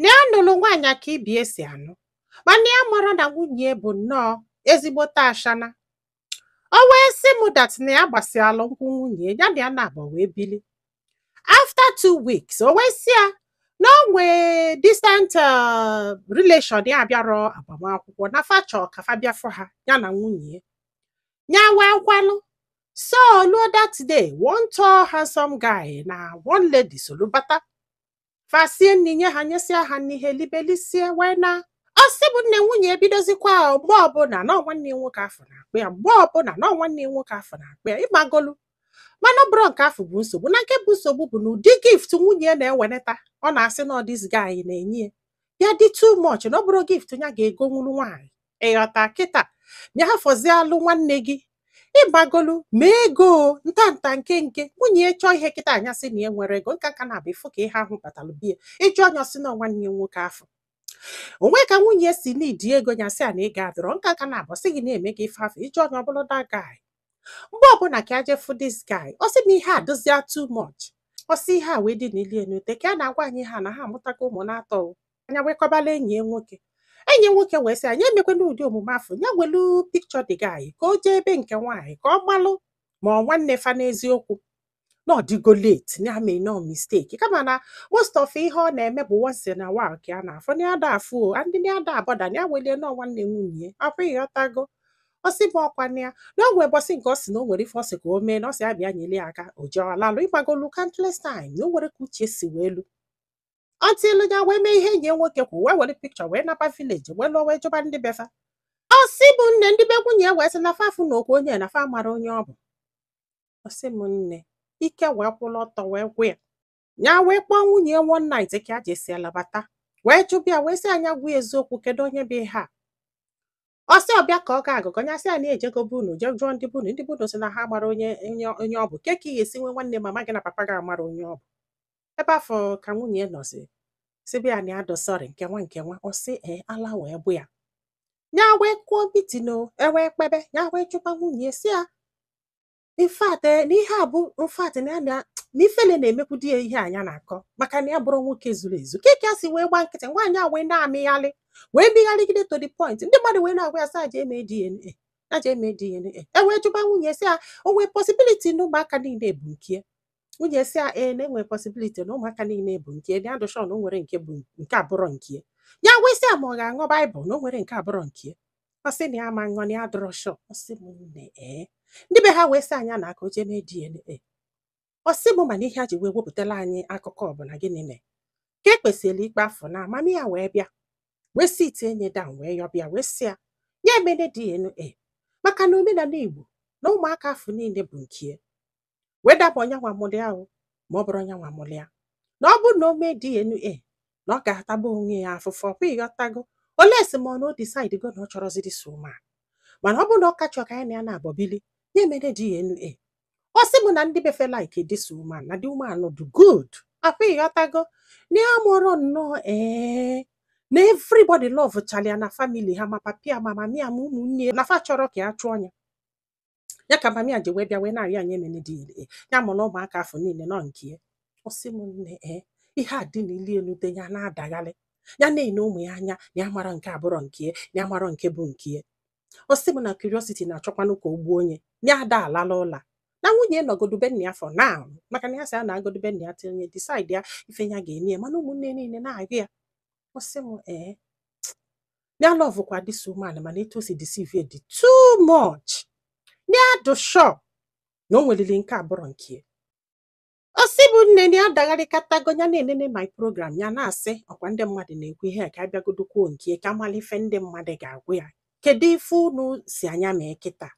na ya nụrụ nwaanyị a ka ibie si anụ mana ya amarọ na nwunye bụ nnọọ ezigbote ashana o wee sị m dat na ya gbasialụ nkwụ nwunye ya na ya na-abọ wee bili after two weeks o wee sị ya na o nwee distant uh, relation ya abịarọ agbamakwụkwọ na fa chọ ka fa bịa fụ ha ya na nwunye ya wee kwelu so o luo that day one tall handsome guy na one lady solu bata fa sie nni nye ha nyesịa ha nni ha elibe lisie wee naa ọ sị bụ nne nwunye ebidozikwa mgbe ọbụla na nwanne ya nwoke afụ na-akpọ ya mgbe ọbụla na nwanne ya nwoke afụ na-akpọ ya ịmagolu mana ọ bụrọ nke afụ bụ nsogbu na nke bụ nsogbu bụ na ụdị gift nwunye ya na-eweneta ọ na-asị na ọ this guy na-enye ya ya dị too much na ọ bụrọ gift ya ga-egonwuru nwaanyị ịghọta kịta ya fọzialụ nwanne gị ịmagolu ma ego nta nta nke nke nwunye ya chọọ ihe kịta nya sị na ya enwerọ ego nka nka na-abụ ịfụ ka ihe ahụ batalụ be ya ị jụọ nya ọ sị na ọ nwanne ya nwoke afụ o nwee ka nwunye si needi ego ya sị a na ego adịrọ nka nka na-abụ sị gị na e mego ife afụ ị jụọ onye ọ bụlụ that guy mgbe ọbụla ka a je fụ this guy ọ sị na ihe a adịzịa too much ọ sị ihe a wee dị n'ili enu ute ka a na-agwa anyị ihe a na ha amụtago ụmụ na-atọ o. nya wee kọbalụ enyi ya nwoke enyi ya nwoke wee sị a nya emekwana ụdị omume afụ ya welu picture the guy ka o jee ebe nke nwaanyị ka ọ malụ ma ọ nwanne fa n'eziokwu na ọ dịgo late na ya meenụ mistake kama na most of ihe ọ na-eme bụ once in a while ka ya na-afụ na ya ada afụ o and na ya ada abọda na ya welie na ọ nwanne nwunye akwa ịghọtago ọ sị bụ ọkwa na ya na o nwee ụbọsị nke ọ sị na o nwere ife ọ sị ka o mee na ọ sị ya bịa nyere ya aka o je ọ lalụ ịmagolu countless time na o nwerọ ka uche si wee lu until ya wee mee ihe enyi ya nwoke kwu wee were picture wee naba village wee luo wee jụba ndị be fa ọ sị bụ nne ndị be nwunye ya wee sị na fa afụnọkwa onye na fa amarọ onye ọ bụ ọ sị m nne ike wee kwụrụ ọtọ wee gwụ ya ya wee kpọọ nwunye ya one night ka a jesịa labata wee jụba ya wee sị a nya gwa ya eziokwu kedu onye bụ ihe a ọ sị ọ bịa ka ọ ga-agọ agọ ya sị ya na ejego be unu je jụọ ndị be unu ndị be unu sị na ha amarọ onye onye ọ bụ kee ka ị ga-esi nwe nwanne mama gị na papa gị amarọ onye ọ bụ ebe afụ ka nwunye nọzi sịba ya na ya dị sorry nke nwa nke nwa ọ sị ee ala wee pụ ya ya wee kụọ meeting e wee kpebe ya wee chụkwa nwunye sị ya in fact eh, na ihe a bụ in fact na ya na na ifele na-emekwudị ya ihe a nya na-akọ maka na ya abụrọ nwoke zuru ezu kee ka ya si wee gba nkịtị nwaanyị a wee na-amịgharị wee mịgharịgide to the point ndị mmadụ wee na-agwa ya sị a ja-eme DNA a ja-eme DNA e wee jụba nwunye sị ya o nwee possibility na ụmụaka niile bụ nke ya nwunye sị ya ee na e nwere possibility na ụmụaka niile bụ nke ya dụ sure na o nwere nke bụ nke abụrọ nke ya wee sị ya ma ọ ga-aṅụ baịbụl na o nwere nke abụrọ nke ọ sị na ya ma ṅụọ na ya adụrọ sure ọ sị m nne ee ndị be ha wee sị ya na ka o jee mee DNA ọ sị m mana ihe a ji wee wepụtala anyị akụkọ a bụ na gịnị mee ka e kpesịrị ikpe afụ na mami ya wee bịa wee sitie ya down wee yọba ya wee sị ya ya emene DNA maka na omenala Igbo na ụmụaka afụ niile bụ nke ya whether ọ bụ ya nwa mụlụ ha ma ọ bụrọ ya nwa mụlụ ya na ọ bụrụ na o mee DNA na ọ ga-ataba onwe ya afụfụ ọ kwa ị ghọtago unless ma ọ na o decide go na ọ chọrọzi this woman mana ọ bụrụ na ọ ka chọrọ ka ya na ya naabọ bili ya emene DNA ọ sị m na ndị be fa like this woman na the woman dị good ọ kwa ị ghọtago na ya maara nnọọ ee na everybody love chara ya na family ha ma papi ya ma mami ya ma ụmụnne ya na fa achọrọ ka ya chụọ ya ya ka mami ya ji wee bịa wee na-arịọ ya ya emene DNA ya mụrụ ụmụaka afụ niile nọ nke ya ọ sị m nne ee ihe a dị n'ili elu dị ya na-adagharị ya na-ene ụmụ ya anya na ya amarọ nke abụrọ nke ya na ya amarọ nke bụ nke ya ọ sị m na curiosity na-achọkwanụ ka o gbuo ya na ya ada alalụ ụla na nwunye nọgodu be nna ya for now maka na ya sị ya naagodu be nna ya till ya decide ya ife ya ga-eme ya mana ụmụnne niile na-agwa ya ọ sị m ee ya love kwa this woman mana etu o si deceive dị too much ya dụ sure na o nwelili nke abụrọ nke ya. ọ sị mụ nne na ya dagharịkatago ya na-enene my program ya na-asị ọ kwa ndị mmadụ na-ekwu ihe a ka ya bịagodu kwuo nke ya, ka ya mara ife ndị mmadụ ga-agwa ya kedu ife unu sị ya mee kịta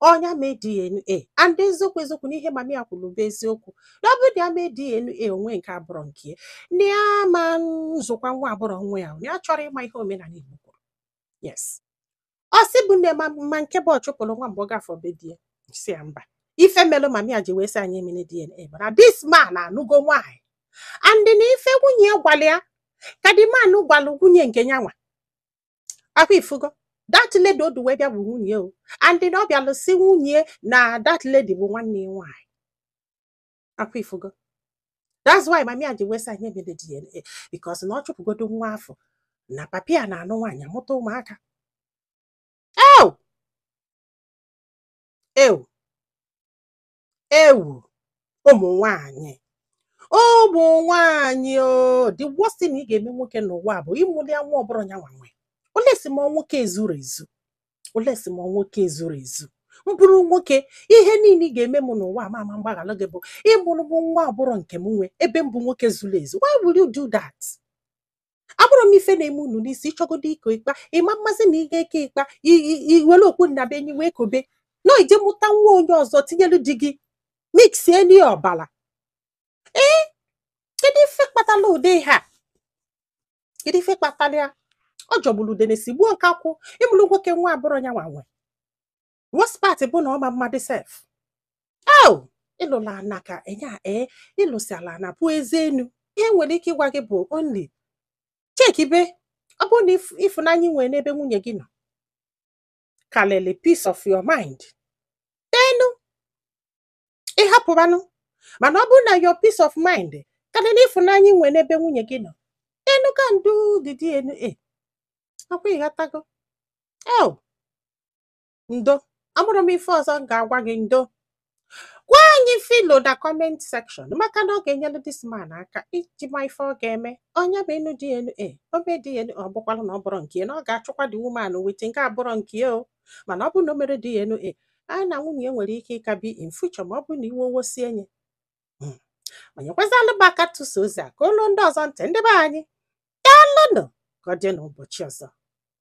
ọ ya mee DNA and eziokwu eziokwu na ihe mami ya kwuru bụ eziokwu na ọ bụrụ na ya mee DNA o nwee nke abụrọ nke ya na ya ma nzụkwa nwa abụrọ nwa ya na ya chọrọ ịma ihe omenala Igbo kwuru yes ọ sị mụ nne ma ma nke bụ ọchụpụrụ nwa mgbe ọ gafọ be di ya sị ya mba ife melụ mami ya ji wee sị ya emene DNA bụ na this man anụgo nwaanyị and na ife nwunye ya gwara ya ka the man gwalụ nwunye nke ya nwa ọ kwa ị fụgo that lady o du wee bịa bụ nwunye o and na ọ bịalụ sị nwunye na that lady bụ nwanne ya nwaanyị ọ kwa ị fụgo that's why mami ya ji wee sị ya emene DNA because na ọ chụpụgodu nwa afụ na papi ya na-anụ nwaanyị amụta ụmụaka ew ew ewu ụmụ nwanyị ụmụ nwanyị o the worst thing ị ga-eme nwoke n'ụwa bụ ịmụlụ ya nwa ọ bụrọ ya nwa nwe unless ma nwoke ezurọ ezu unless ma nwoke ezurọ ezu m bụrụ nwoke ihe niile ị ga-eme m n'ụwa m ama mgbaghalụ gị bụ ịmụrụ m nwa ọ bụrọ nke m nwe ebe m bụ nwoke zuru ezu why will you do that amarọ m ife na-eme unu n'isi ị chọgodu iko ịkpa ị ma mazi na ị ga-eke ịkpa i- i- i were okpu nnabuenyi wee kobe na i je mụta nwa onye ọzọ tinyelu di gị miksieli ya ọbala ee kedu ife kpatala ụdị ihe a kedu ife kpatala ya ọ jọgburu udene sigbuo nkakwụ ịmụlụ nwoke nwa abụrọ ya nwa nwe worst part bụ na ọ ma mmadụ sef au ịlụla ana ka enye a ee ịlụsi ala na-apụ ezi enu ihe m nwere ike ịgwa gị bụ only chekibe ọ bụrụ na ịf- ịfụnanya ị nwere n'ebe nwunye gị nọ kalịlị peace of your mind enu ị hapụbanụ mana ọ bụrụ na your peace of mind kalịlị ịfụnanya ị nwere n'ebe nwunye gị nọ enu conduct dna ọkwa ị ghọtago el ndo amarọ m ife ọzọ m ga-agwa gị ndo gwa anyị filo na kọment sekshọn maka na ọ ga-enyelu dis man aka iji ma ife ọ ga-eme onye bụ enu dna o mee dna ọ bụkwala na ọ bụrọ nke ya, na ọ ga-achụkwa di wuman wit nwa abụrọ nke ya o mana ọ bụrụ na o merọ dna nya na nwunye ya nwere ike ịka bi in future ma ọ bụrụ na iwe owosie nye ma nyekwazalụ m aka tụsa ozi a ka o luo ndị ọzọ ntị ndị be anyị daalụnụ ka ọ dị n'ụbọchị ọzọ